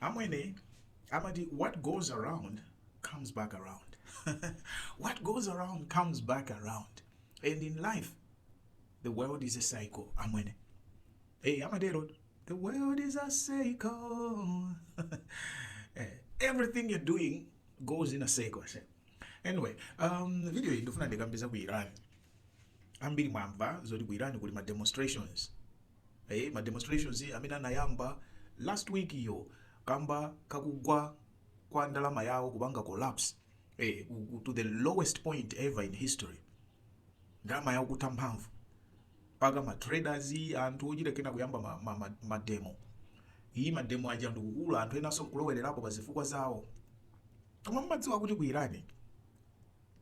amwene amati what goes around comes back around what goes around comes back around and in life the world is a cycle amwene hey amatero the world is a cycle Eh, everything you're doing goes in a cycle I say. anyway um, video iyi ndifuna ndikambeza ku iran ambiri mwamva zoti ku iran kuli ma demonstrations eh, ma demonstrations amene anayamba last week iyo kamba kakugwa kwa ndalama yawo kupanga collapse eh, to the lowest point ever in history ndalama yawo kutha mphamvu mpaka ma traders anthu ochita kena kuyamba ma, ma, ma, ma demo iyi ma demo aja ndikukula anthu enanso nkulowererapo pa zifukwa zawo koma mmadziwa kuti ku Iran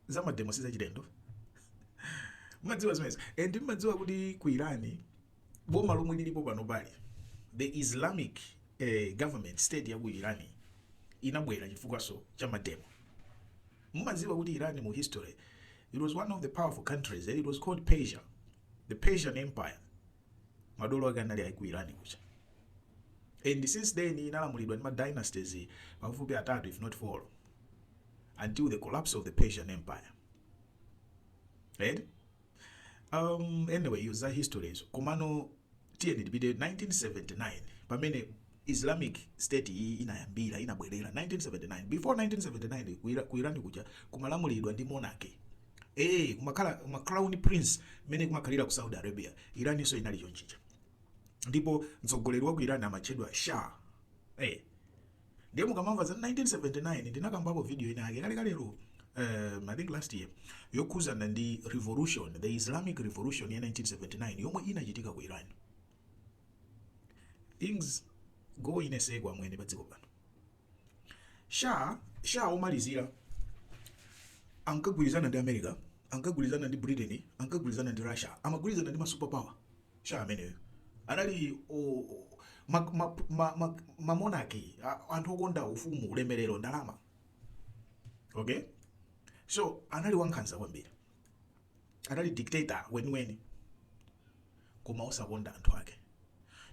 za mademo sizachilendo mmadziwa zimenezo and mmadziwa kuti ku irani boma lomwe lilipo pano pali the islamic eh, government state ya ku irani inabwera chifukwaso cha mademo mumadziwa kuti irani mu history it was one of the powerful countries eh? it was called persia the persian empire madolo ake anali ku irani kuja and since then inalamulidwa ndi ma dynasties pafupi atatu if not four until the collapse of the Persian Empire. Right? Um, anyway, izo za history. So, Kumano, tiyeni tipite 1979 pamene islamic state iyi inayambira inabwerera 1979 before 1979 kuira- kuirani kuja kumalamulidwa ndi monarchy eh kumakhala ma crown prince mmene kumakhalira ku saudi arabia iraninso inali chonchija ndipo mtsogoleri wa ku irani amatchedwa shah eh ndiye mukamamva za 1979 ndinakambapo video ina yake kalekalero um, I think last year yokhuzana ndi revolution the islamic revolution ya 1979 yomwe inachitika ku iran things go in a circle amwene pa dziko pano sha sha omalizira ankagwirizana ndi america ankagwirizana ndi britain ankagwirizana ndi russia amagwirizana ndi masuperpower sha ameneyo anali o- o- ma- ma- ma- ma- mamonarch a- anthu okonda ufumu ulemerero ndalama okay so anali wankhanza kwambiri anali dictator weniweni koma osakonda anthu ake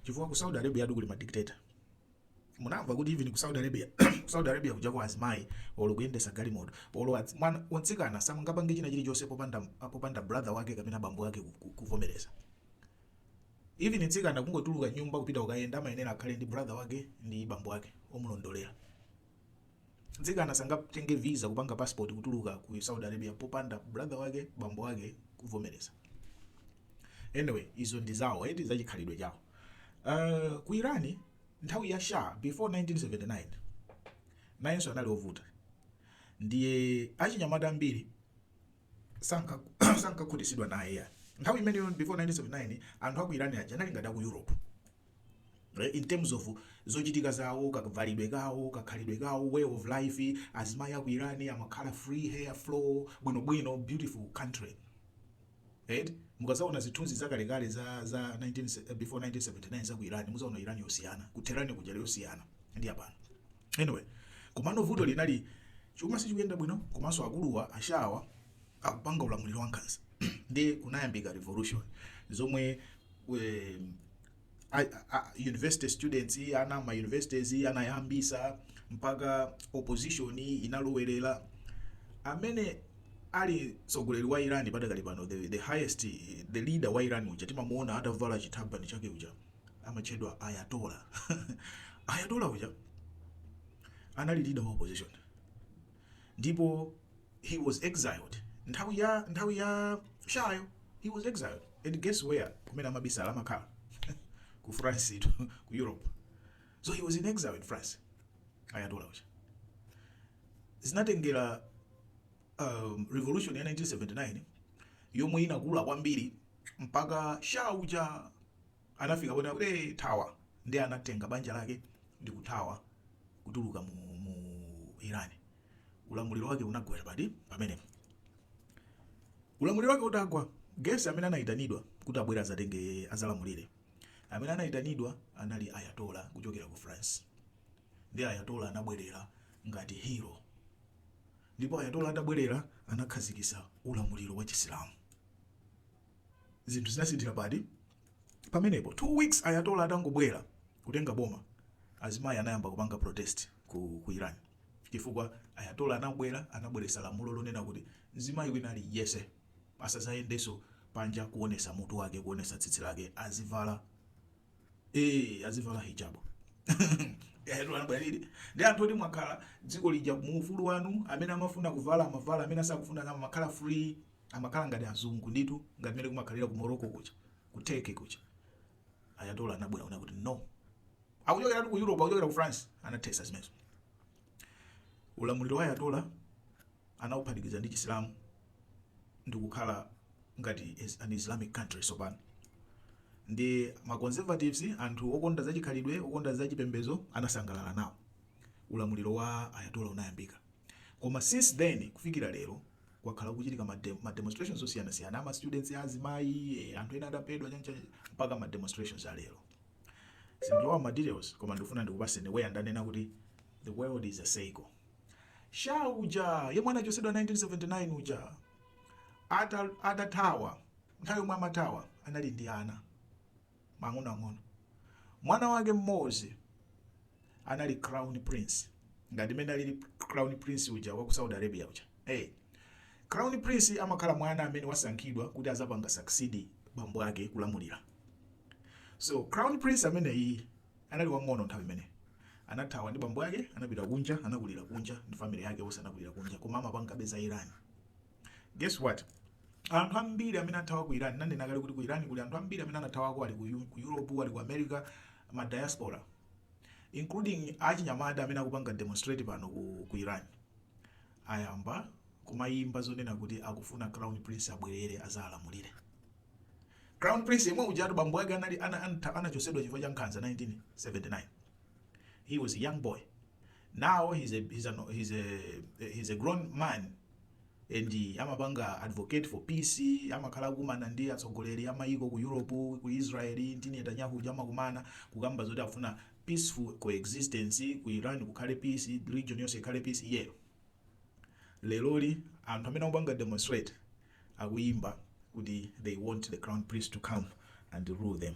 chifukwa ku saudi arabia uja kuli madictator munamva kuti even ku saudi arabia ku saudi arabia kuja kwa azimayi olo kuyendetsa galimoto olo adzi- mwana wamtsikana samangapange china chilichonse popanda popanda brother wake kapena bambo wake ku- ku- kuvomereza even mtsikana kungotuluka m'nyumba kupita kukayenda amayenera akhale ndi brother wake ndi bambo wake omulondolera Mtsikana sangatenge visa kupanga passport kutuluka ku Saudi Arabia popanda brother wake, bambo wake kuvomereza. Anyway izo ndi zawo eti za chikhalidwe chawo. Uh, ku Iran nthawi ya Shah before 1979 nayenso anali ovuta ndiye achinyamata ambiri sankakhutitsidwa naye ya nthawi imeneyo before 1979 anthu aku Iran aja anali ngati aku Europe in terms of zochitika zawo kavalidwe kawo kakhalidwe kawo way of life azimayi aku iran amakhala free hair flow bwinobwino beautiful country right mukadzaona zithunzi zakalekale za za 19, before 1979 za ku iran mudzaona iran yosiyana kutehran kuja yosiyana ndi apano anyway komano vuto linali chuma sichikuyenda bwino komanso akuluwa ashawa akupanga ulamuliro wankhanza ndiye kunayambika revolution zomwe um, university students ana ma universities anayambisa mpaka opposition inalowerera amene ali mtsogoleri wa Iran padakali pano the, the highest the leader wa Iran uja timamuona atavala chithabani chake uja amatchedwa Ayatollah Ayatollah uja anali leader wa opposition ndipo he was exiled nthawi ya nthawi ya shahyo he was exiled and guess where kumene amabisala amakhala ku france eti ku europe so he was in exile in france ayatola uja zinatengera um, revolution ya 1979 yomwe inakula kwambiri mpaka shah uja anafika ponena kuti, Hey, thawa! Ndiye anatenga banja lake ndi kuthawa kutuluka mu, mu Iran. Ulamuliro wake unagwera pati pomwepo. Ulamuliro wake utagwa, Guess amene anayitanidwa kuti abwere adzatenge adzalamulire, amene anayitanidwa anali Ayatola kuchokera ku France. Ndiye Ayatola anabwerera ngati hero, ndipo Ayatola atabwerera anakhazikitsa ulamuliro wa Chisilamu. zinthu zinasinthira pati pamenepo two weeks ayatola atangobwera kutenga boma azimayi anayamba kupanga protest ku, ku iran chifukwa ayatola anabwera anabweretsa lamulo lonena kuti mzimayi wina aliyense asadzayendenso panja kuonetsa mutu wake kuonetsa tsitsi lake azivala eh azivala hijabu ndi anthu oti mwakhala dziko lija muufulu wanu amene amafuna kuvala amavala amene asakufuna amakhala free Amakhala ngati azungu nditu ngati mmene kumakhalira ku Morocco kuja, ku Turkey kuja. Ayatollah anabwera kunena kuti no. Akuchokeratu ku Europe, akuchokera ku France, anathetsa zimenezo. Ulamuliro wa Ayatollah anauphatikiza ndi Chisilamu ndikukhala ngati is an Islamic country tsopano. Ndi ma conservatives, anthu okonda za chikhalidwe, okonda za chipembedzo, anasangalala nawo. Ulamuliro wa Ayatollah unayambika. Koma since then kufikira lero, kwakhala kukuchitika ma demo ma demonstrations osiyanasiyana ama students azimayi eh, anthu ena adaphedwa chanichani mpaka ma demonstrations alero sindilowa ma details koma ndikufuna ndikupaseni where ndanena kuti the world is a cycle shah uja yemwe anachotsedwa 1979 uja ata atathawa nthawi yomwe amathawa anali ndi ana ang'onoang'ono. Mwana wake mmodzi anali Crown Prince, ngati mmene alili Crown Prince uja wa ku Saudi Arabia uja. Hey. Crown Prince amakhala mwana amene wasankhidwa kuti azapanga succeed bambo ake kulamulira. So Crown Prince ameneyi anali wang'ono nthawi imene anathawa ndi bambo ake, anapita kunja, anakulira kunja ndi family yake, onse anakulira kunja, koma amapanga visit Iran. guess what anthu ambiri amene athawa ku iran nanena kale kuti ku iran kuli anthu ambiri amene anathawako ali ku Eu- ku europe ali ku america ma diaspora including achinyamata amene akupanga demonstrate pano ku, ku iran ayamba kumayimba zonena kuti akufuna crown prince abwerere azalamulire crown prince yemwe ujatu bambo ake anali ana- anta- anachotsedwa chifukwa cha nkhanza 1979 he was a young boy now he's a, he's a, he's a, he's a grown man and amapanga advocate for peace amakhala kumana ndi atsogoleri amayiko ku europe ku israel ndi netanyahu uja amakumana kukamba zoti afuna peaceful coexistence ku iran kukhale peace region yonse ikhale peace iyeyo leroli anthu amene akupanga demonstrate akuyimba kuti they want the crown prince to come and rule them